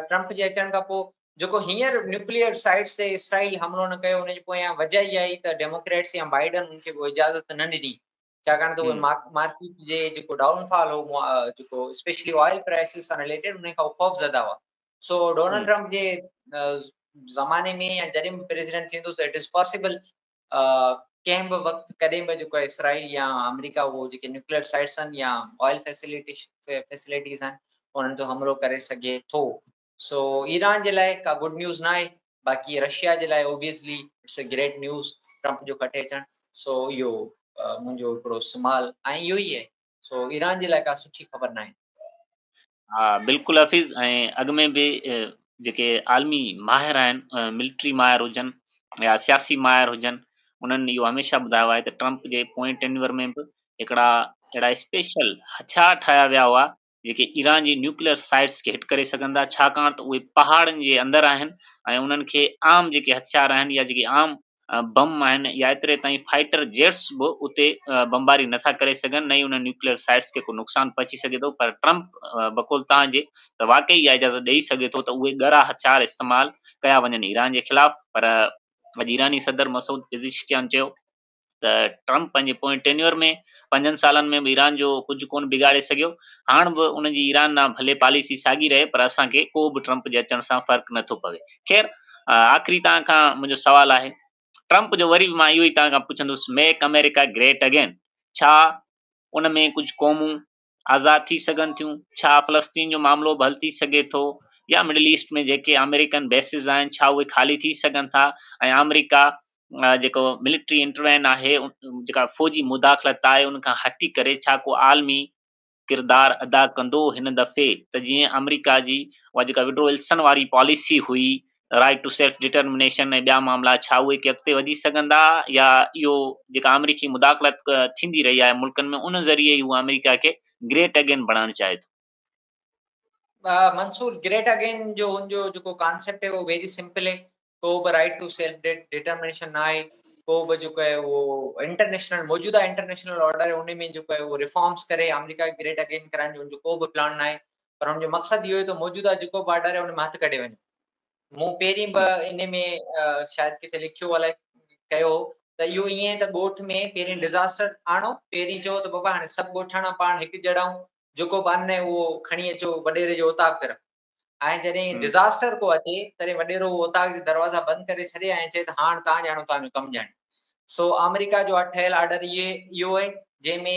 Speaker 2: Trump جي اچڻ کان پوء جيڪو هينئر نيوڪليئر سائٽس تي اسرائيل حملو نه ڪيو ان جي پويان وجه اها ئي ته ڊيموڪريٽس يا بائيڊن ان کي اها اجازت نه ڏني ڇاڪاڻ ته اهي مارڪيٽ جي جيڪو ڊائون فال هو جيڪو اسپيشلي آئل پرائسز سان رليٽيڊ ان کان خوف زده هئا سو ڊونلڊ ٽرمپ جي زماني ۾ يا جڏهن به پريزيڊنٽ ٿيندو ته اٽ از پاسبل ڪنهن به وقت ڪڏهن به جيڪو اسرائيل يا آمريڪا اهو جيڪي نيوڪليئر سائيٽس آهن يا آئل فيسليٽيز آهن انهن تي حملو ڪري سگهي ٿو سو ايران جي لاء ڪا گڊ نيوز نه آهي باقي رشيا جي لاء obviously it's a great news Trump جو ڪٽي اچڻ سو اهو منهنجو هڪڙو سمال ۽ اهو ئي آهي سو ايران جي لاء ڪا سٺي خبر ناهي. ها
Speaker 1: بلڪل حفيظ ۽ اڳ ۾ به جيڪي عالمي ماهر آهن ملٽري ماهر هجن يا سياسي ماهر هجن انهن اهو هميشه ٻڌايو آهي ته ٽرمپ جي پوئين ٽينيور ۾ به هڪڙا اهڙا اسپيشل هٿيار ٺاهيا ويا هئا جيڪي ايران جي نيوڪليئر سائيٽس کي هٽ ڪري سگهن ٿا ڇاڪاڻ ته اهي پهاڙن جي اندر آهن ۽ انهن کي عام جيڪي هٿيار آهن يا جيڪي عام بم آهن يا ايتري تائين فائيٽر جيٽس به اتي بمباري نه ٿا ڪري سگهن نه ئي انهن نيوڪليئر سائيٽس کي ڪو نقصان پهچي سگهي ٿو پر ٽرمپ بقول توهان جي ته واقعي اها اجازت ڏئي سگهي ٿو ته اهي ڳرا هٿيار استعمال ڪيا وڃن ايران جي خلاف پر اڄ ايراني صدر مسعود پزشڪيان چيو ته ٽرمپ پنهنجي پوئين ٽينيور ۾ پنجن سالن ۾ به ايران جو ڪجهه ڪونه بگاڙي سگهيو هاڻ به ان جي ايران ڏانهن ڀلي پاليسي ساڳي رهي پر اسان کي ڪو به ٽرمپ جي اچڻ سان فرق نه ٿو پوي. خير آخري توهان کان منهنجو سوال آهي ٽرمپ جو وري به مان اهو ئي توهان کان پڇندس ميڪ آمريڪا گريٽ اگين ڇا ان ۾ ڪجهه قومون آزاد ٿي سگهن ٿيون ڇا فلسطين جو معاملو به حل ٿي سگهي ٿو يا مڊل ايسٽ ۾ جيڪي آمريڪن بيسز آهن ڇا اهي خالي ٿي سگهن ٿا ۽ آمريڪا جيڪو ملٽري انٽروين آهي جيڪا فوجي مداخلت آهي ان کان هٽي ڪري ڇا ڪو عالمي ڪردار ادا ڪندو هن دفعي ته جيئن آمريڪا جي اها جيڪا وڊرو ولسن واري پاليسي هئي رائيٽ ٽو سيلف ڊٽرمنيشن ۽ ٻيا معاملا ڇا اهي ڪي اڳتي وڌي سگهندا يا اهو جيڪا آمريڪي مداخلت ٿيندي رهي آهي ملڪن ۾ ان ذريعي ئي هو آمريڪا کي گريٽ اگين بڻائڻ چاهي ٿو. منصور،
Speaker 2: گريٽ اگين جو ان جو جيڪو ڪانسيپٽ هي اهو ويري سمپل هي ڪو به رائيٽ ٽو سيلف ڊٽرمنيشن نه آهي ڪو به جيڪو آهي اهو انٽرنيشنل موجوده انٽرنيشنل آرڊر ان ۾ جيڪو آهي اهو ريفارمز ڪري آمريڪا کي گريٽ اگين ڪرائڻ جو ان جو ڪو به پلان نه آهي پر ان جو مقصد اهو آهي ته موجوده جيڪو به آرڊر آهي ان ۾ هٿ ڪڍي وڃي مون پهرين به ان ۾ شايد ڪٿي لکيو الائي ڪيو ته اهو ائين ته ڳوٺ ۾ پهرين ڊزاسٽر آڻو پهرين چئو ته بابا هاڻي سڀ ڳوٺاڻا پاڻ هڪ جهڙا آهيون جيڪو به ان اهو کڻي اچو وڏيري جو اوطاق تي رکو ۽ جڏهن ڊزاسٽر ڪو اچي،
Speaker 1: تڏهن
Speaker 2: وڏيرو اهو اوطاق جا دروازا بند ڪري ڇڏي ۽ چئي ته هاڻ تان ڄاڻو تان جو ڪم ڄاڻي. سو آمريڪا جو ٺهيل آرڊر اهي اهو اهي، جنهن ۾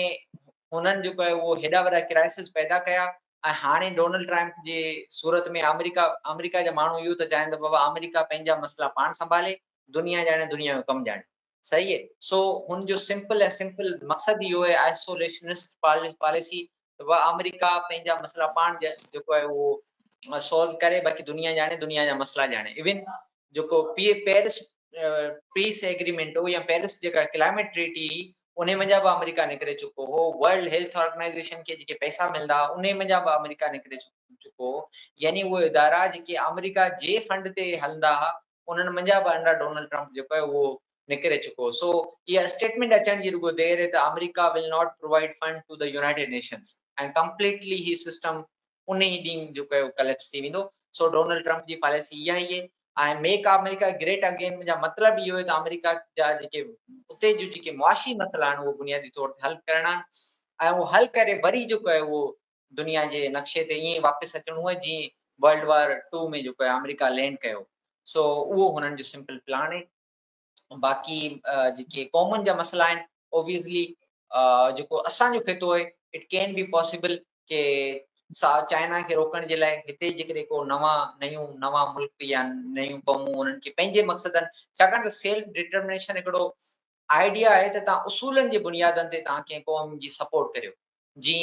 Speaker 2: هنن جيڪو اهي اهو هيڏا وڏا ڪرائسز پيدا ڪيا ۽ هاڻي ڊونلڊ ٽرائمپ جي صورت ۾ آمريڪا آمريڪا جا ماڻهو اهو ته چاهين ته بابا آمريڪا پنهنجا مسئلا پاڻ سنڀالي، دنيا ڄاڻي دنيا جو ڪم ڄاڻي. صحيح سو هن جو سمپل ۽ سمپل مقصد اهو آهي آئسوليشنسٽ پاليسي و آمريڪا پنهنجا مسئلا پاڻ جيڪو آهي اهو سالو ڪري باقي دنيا ڄاڻي دنيا جا مسئلا ڄاڻي ايون جيڪو پي پيرس پيس ايگريمنٽ هو يا پيرس جيڪا ڪلائميٽ ٽريٽي هي ان منجا به آمريڪا نڪري چڪو هو ورلڊ هيلٿ آرگنائزيشن کي جيڪي پئسا ملندا ان منجا به آمريڪا نڪري چڪو هو يعني اهي ادارا جيڪي آمريڪا جي فنڊ تي هلندا هئا انهن منجهان به انڊر ڊونلڊ ٽرمپ جيڪو آهي اهو نڪري چڪو سو اها اسٽيٽمينٽ اچڻ جي رڳو دير هي ته America will not provide fund to the United Nations ۽ completely هي سسٽم ان ئي ڏينهن جيڪو آهي اهو ڪليپس ٿي ويندو سو ڊونلڊ ٽرمپ جي پاليسي اها ئي هي ۽ ميڪ آمريڪا گريٽ اگين منجهان مطلب اهو هي ته آمريڪا جا جيڪي اتي جو جيڪي معاشي مسئلا آهن اهو بنيادي طور تي حل ڪرڻا آهن ۽ اهو حل ڪري وري جيڪو آهي اهو دنيا جي نقشي تي ائين واپس اچڻو هو جيئن ورلڊ وار ٽو ۾ جيڪو آمريڪا لينڊ ڪيو هو سو اهو هنن جو سمپل پلان هي باقي جيڪي قومن جا مسئلا آهن اوبيسلي جيڪو اسان جو خطو هي اٽ ڪين بي پاسبل ڪي چائنا کي روڪڻ جي لاء هتي جيڪڏهن ڪو نوان نيون نوان ملڪ يا نيون قومون انهن کي پنهنجي مقصدن ڇاڪاڻ ته سيلف ڊٽرمنيشن هڪڙو آئيڊيا آهي ته توهان اصولن جي بنيادن تي توهان ڪنهن قوم جي سپورٽ ڪريو جي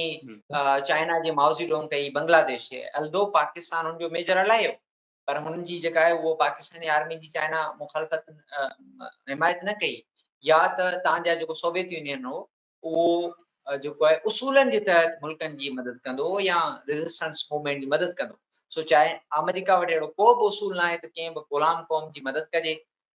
Speaker 2: چائنا جي ماوزي ڊونگ ڪئي بنگلاديش جي الدو پاڪستان هن جو ميجر الايو پر هن جي جيڪا آهي اهو پاڪستاني آرمي جي چائنا مخالفت حمايت نه ڪئي يا ته تان جا جيڪو سوويت يونين هو اهو جيڪو آهي اصولن جي تحت ملڪن جي مدد ڪندو يا ريزسٽنس موومينٽ جي مدد ڪندو سو چاهي آمريڪا وٽ اهڙو ڪو به اصول نه آهي ته ڪنهن به غلام قوم جي مدد ڪجي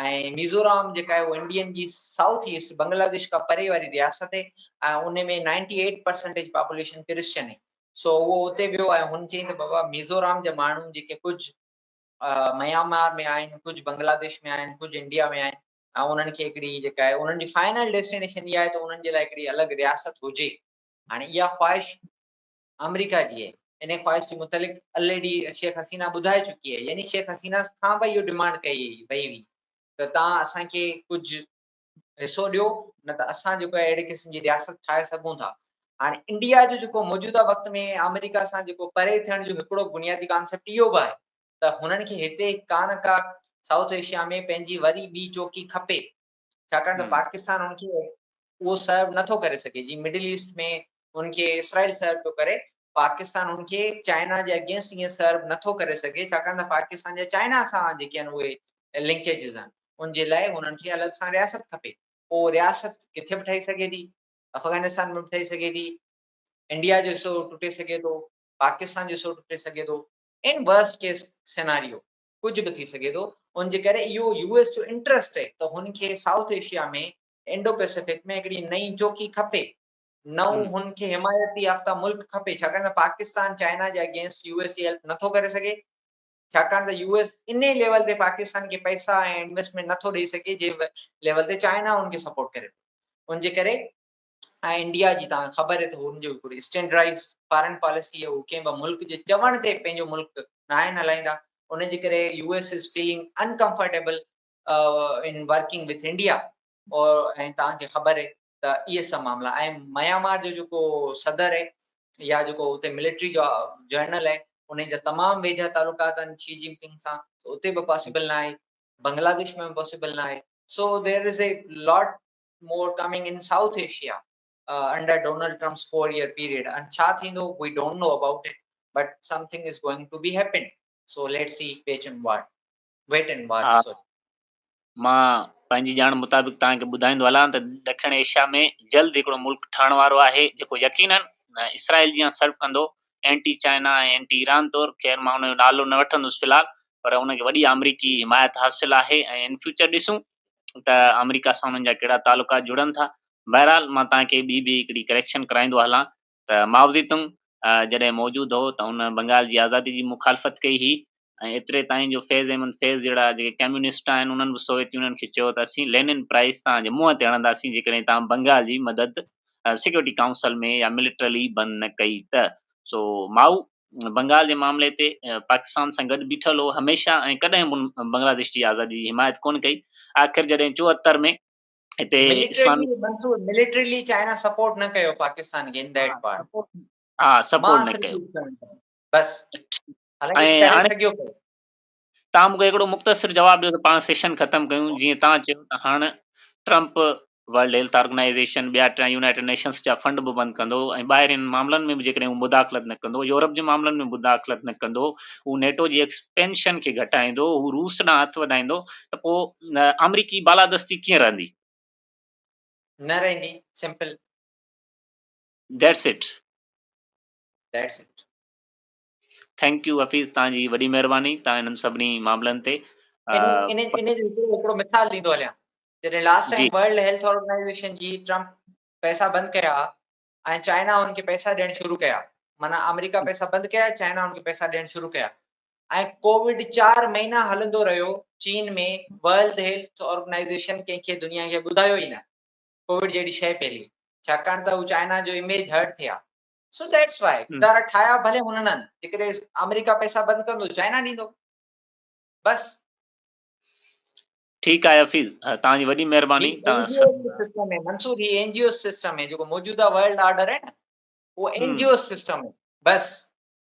Speaker 2: ۽ ميزورام جيڪا آهي اهو انڊين جي سائوٿ ايسٽ بنگلاديش کان پري واري رياست هي ۽ ان ۾ ninety eight percentage population Christian هي سو اهو اتي ويو ۽ هن چيائين ته بابا ميزورام جا ماڻهو جيڪي ڪجهه ميانمار ۾ آهن ڪجهه بنگلاديش ۾ آهن ڪجهه انڊيا ۾ آهن ۽ انهن کي هڪڙي جيڪا آهي انهن جي فائنل ڊيسٽينيشن اها آهي ته انهن جي لاء هڪڙي الڳ رياست هجي هاڻي اها خواهش آمريڪا جي انهي خواهش جي متعلق الريڊي شيخ حسينه ٻڌائي چڪي آهي يعني شيخ حسينه کان به اهو ڊمانڊ ڪئي وئي هئي ته توهان اسان کي ڪجهه حصو ڏيو نه ته اسان جيڪو اهڙي قسم جي رياست ٺاهي سگهون ٿا هاڻي انڊيا جو جيڪو موجوده وقت ۾ آمريڪا سان جيڪو پري ٿيڻ جو هڪڙو بنيادي ڪانسيپٽ اهو به آهي ته هنن کي هتي ڪا نه ڪا سائوٿ ايشيا ۾ پنهنجي وري ٻي چوڪي کپي ڇاڪاڻ ته پاڪستان ان کي اهو
Speaker 1: سرو
Speaker 2: نه ٿو ڪري سگهي جيئن مڊل ايسٽ ۾ ان کي اسرائيل سرو پيو ڪري پاڪستان ان کي چائنا جي اگينسٽ ايئن سرو نه ٿو ڪري سگهي ڇاڪاڻ ته پاڪستان جا چائنا سان جيڪي آهن اهي لنڪيجز آهن ان جي لاء هنن کي الڳ سان رياست کپي پوء رياست ڪٿي به ٺهي سگهي ٿي افغانستان ۾ به ٺهي سگهي ٿي انڊيا جو حصو ٽٽي سگهي ٿو پاڪستان جو حصو ٽٽي سگهي ٿو ان ورسٽ ڪيس سيناريو ڪجهه به ٿي سگهي ٿو ان جي ڪري اهو يو ايس جو انٽرسٽ اهي ته هن کي سائوٿ ايشيا ۾ انڊو پئسفڪ ۾ هڪڙي نئين چوڪي کپي نئون هن کي حمايتي يافته ملڪ کپي ڇاڪاڻ ته پاڪستان چائنا جي اگينسٽ يو ايس جي هيلپ نٿو ڪري سگهي ڇاڪاڻ ته يو ايس ان ليول تي پاڪستان کي پئسا ۽ انويسٽمينٽ نٿو ڏئي سگهي جنهن ليول تي چائنا هن کي سپورٽ ڪري ان جي ڪري ۽ انڊيا جي توهان کي خبر آهي ته هن جو هڪڙو اسٽينڊرائز فارن پاليسي هي هو ڪنهن به ملڪ جي چوڻ تي پنهنجو ملڪ ناهن هلائيندا ان جي ڪري U S is feeling uncomfortable in working with India or ۽ توهان کي خبر آهي ته اهي سڀ معاملا ۽ ميامار جو جيڪو صدر آهي يا جيڪو اتي ملٽري جو جنرل آهي ان جا تمام ويجها تعلقات آهن شي جن پنگ سان اتي به پاسبل نه آهي بنگلاديش ۾ پاسبل نه آهي سو there is A lot more coming in South Asia under Donald Trump's four year period and ڇا ٿيندو we don't know about it but something is going to be happened so let's see wait and what wait and what so مان
Speaker 1: پنهنجي ڄاڻ مطابق توهان کي ٻڌائيندو هلان ته ڏکڻ ايشيا ۾ جلد هڪڙو ملڪ ٺهڻ وارو آهي جيڪو يقينن اسرائيل جيان سرف ڪندو اينٽي چائنا ۽ اينٽي ايران طور خير مان ان جو نالو نه وٺندس في الحال پر ان کي وڏي آمريڪي حمايت حاصل آهي ۽ ان فيوچر ڏسون ته آمريڪا سان انهن جا ڪهڙا تعلقات جڙن ٿا. بهرحال مان توهان کي ٻي به هڪڙي ڪريڪشن ڪرائيندو هلان ته مائوزي تنگ جڏهن موجود هو ته هن بنگال جي آزادي جي مخالفت ڪئي هئي ۽ ايتري تائين جو فيض احمد فيض جهڙا جيڪي ڪميونسٽ آهن انهن به سوويت يونين کي چيو ته اسين لينن پرائس توهان جي منهن تي هڻنداسين جيڪڏهن توهان بنگال جي مدد سيڪيورٽي ڪائونسل ۾ يا ملٽرلي بند نه ڪئي ته سو مائو بنگال جي معاملي تي پاڪستان سان گڏ بيٺل هو، هميشه ۽ ڪڏهن به هن بنگلاديش جي آزادي جي حمايت ڪونه ڪئي، آخر جڏهن چوهتر ۾ هتي اسلامي. مليٽريلي
Speaker 2: چائنا سپورٽ نه ڪيو پاڪستان کي ان ديٽ پارٽ. ها سپورٽ
Speaker 1: نه ڪيو. بس.
Speaker 2: ۽ هاڻي. تان مونکي
Speaker 1: هڪڙو مختصر جواب ڏيو ته پاڻ سيشن ختم ڪيون جيئن تان چيو ته هاڻ ٽرمپ ورلڊ هيلٿ آرگنائيزيشن ٻيا ٽيا يونائيٽيڊ نيشنس جا فنڊ به بند ڪندو ۽ ٻاهرين معاملن ۾ به جيڪڏهن هو مداخلت نه ڪندو يورپ جي معاملن ۾ مداخلت نه ڪندو هو نيٽو جي ايڪسپينشن کي گهٽائيندو هو روس ڏانهن هٿ وڌائيندو ته پو آمريڪي بالادستي ڪيئن رهندي
Speaker 2: نه رهندي simple
Speaker 1: that's it
Speaker 2: that's it
Speaker 1: thank you Hafeez توهان جي وڏي مهرباني توهان انهن سڀني معاملن تي ان ان
Speaker 2: ان جو هڪڙو مثال ڏيندو هليان جڏهن لاسٽ جي ٽائيم ورلڊ هيلٿ
Speaker 1: آرگنائيزيشن
Speaker 2: جي ٽرمپ پئسا بند ڪيا ۽ چائنا هن کي پئسا ڏيڻ شروع ڪيا معنيٰ آمريڪا پئسا بند ڪيا چائنا هن کي پئسا ڏيڻ شروع ڪيا ۽ ڪووڊ چار مهينا هلندو رهيو چين ۾ ورلڊ هيلٿ آرگنائيزيشن ڪنهن کي دنيا کي ٻڌايو ئي نه ڪووڊ جهڙي شيء پهلي ڇاڪاڻ ته هو چائنا جو اميج هرٽ ٿيا سو ديٽس وائي ادارا ٺاهيا ڀلي هنن جيڪڏهن آمريڪا پئسا بند ڪندو چائنا ڏيندو بس
Speaker 1: ٺيڪ آهي حفيظ توهان جي وڏي مهرباني منصور
Speaker 2: هي اين جي او سسٽم ۾ جيڪو موجوده ورلڊ آرڊر آهي نه اهو اين جي او سسٽم بس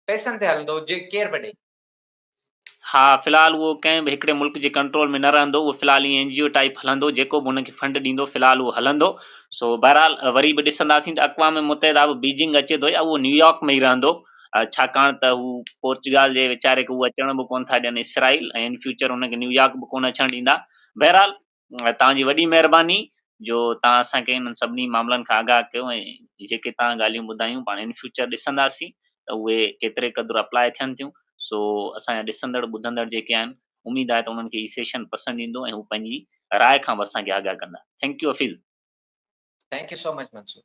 Speaker 2: پئسن تي هلندو جي ڪير به ڏي
Speaker 1: ها في الحال اهو ڪنهن به هڪڙي ملڪ جي ڪنٽرول ۾ نه رهندو اهو في الحال ائين اين جي او ٽائيپ هلندو جيڪو به ان کي فنڊ ڏيندو في الحال اهو هلندو سو بهرحال وري به ڏسنداسين ته اقوام متحده به بيجنگ اچي ٿو يا اهو نيويارڪ ۾ ئي رهندو ڇاڪاڻ ته هو پورچگال جي ويچاري کي اهو اچڻ به ڪونه ٿا ڏين اسرائيل ۽ ان فيوچر ان کي نيويارڪ به ڪونه اچڻ ڏيندا بهرحال توهان جي وڏي مهرباني جو توهان اسان کي انهن سڀني معاملن کان آگاهه ڪيو ۽ جيڪي توهان ڳالهيون ٻڌايون پاڻ ان فيوچر ڏسنداسين ته اهي ڪيتري قدر اپلائي ٿين ٿيون سو اسان جا ڏسندڙ ٻڌندڙ جيڪي آهن اميد آهي ته انهن کي هي سيشن پسند ايندو ۽ هو پنهنجي راء
Speaker 2: کان
Speaker 1: به اسان کي آگاهه
Speaker 2: ڪندا
Speaker 1: thank you Hafeez thank you so much Mansoor